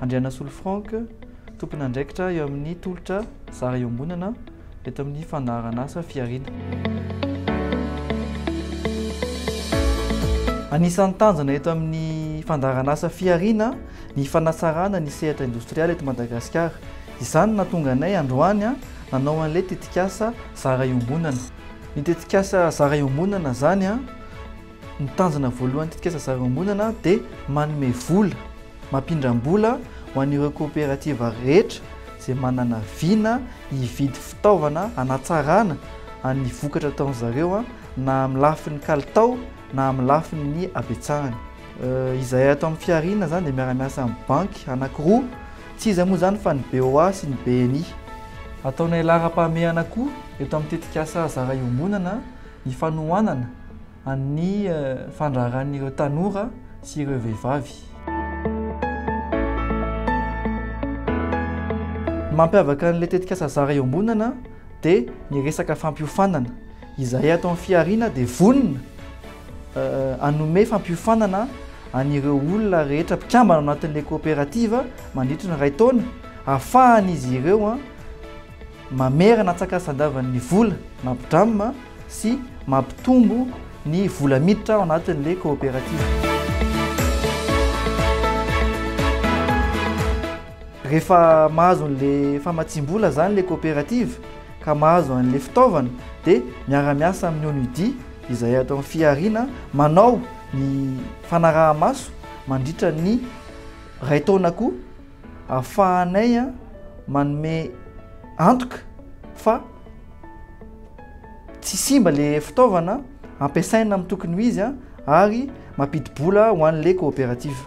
Andrianasolo Franck, tompon'andraikitra eo amin'ny tolotra zara iombonana eto amin'ny fandaharanasa Fihariana. Anisan'ny tanjona eto amin'ny fandaharanasa Fihariana ny fanatsarana ny sehatra indostrialy eto Madagasikara. Izany no nahatonga anay androany nanao an'ilay tetikasa zara iombonana. Ny tetikasa Zara Iombonana izany, ny tanjona voalohan'ny tetikasa Zara Iombonana dia manome vola, mampindram-bola ho an'ireo kaoperativa rehetra izay manana vina hividy fitaovana hanatsarana ny vokatra ataon-dry zareo na amin'ny lafiny kalitao na amin'ny lafiny habetsahany. Izahay ato amin'ny Fihariana izany dia miara-miasa amin'ny banky anankiroa Tsy iza moa izany fa ny BOA sy ny BNI. Ataonay laharam-pahamehana koa eto amin'ny tetikasa Zara Iombonana ny fanohanana an'ny fandraharan'ireo tanora sy ireo vehivavy. Ny mampiavaka an'ilay tetikasa Zara Iombonana dia ny resaka fampiofanana. Izahay ato amin'ny Fihariana dia vonona. Hanome fampiofanana an'ireo olona rehetra mpikambana ao anatin'ilay coopérative mandritry ny iray taona ahafahan'izy ireo mamerana antsakasan-davany ny vola na bdram sy mampitombo ny vola miditra ao anatin'ilay coopérative. Rehefa mahazo an'ilay famatsiam-bola izany ilay coopérative ka mahazo an'ilay fitaovana dia miara-miasa amin'ny ONUDI izay ato amin'ny fihariana manao ny fanaraha-maso mandritra ny iray taona koa ahafahanay manome antoka fa tsy simba ilay fitaovana ampiasaina amin'ny tokony ho izy ary mampidi-bola ho an'ilay coopérative.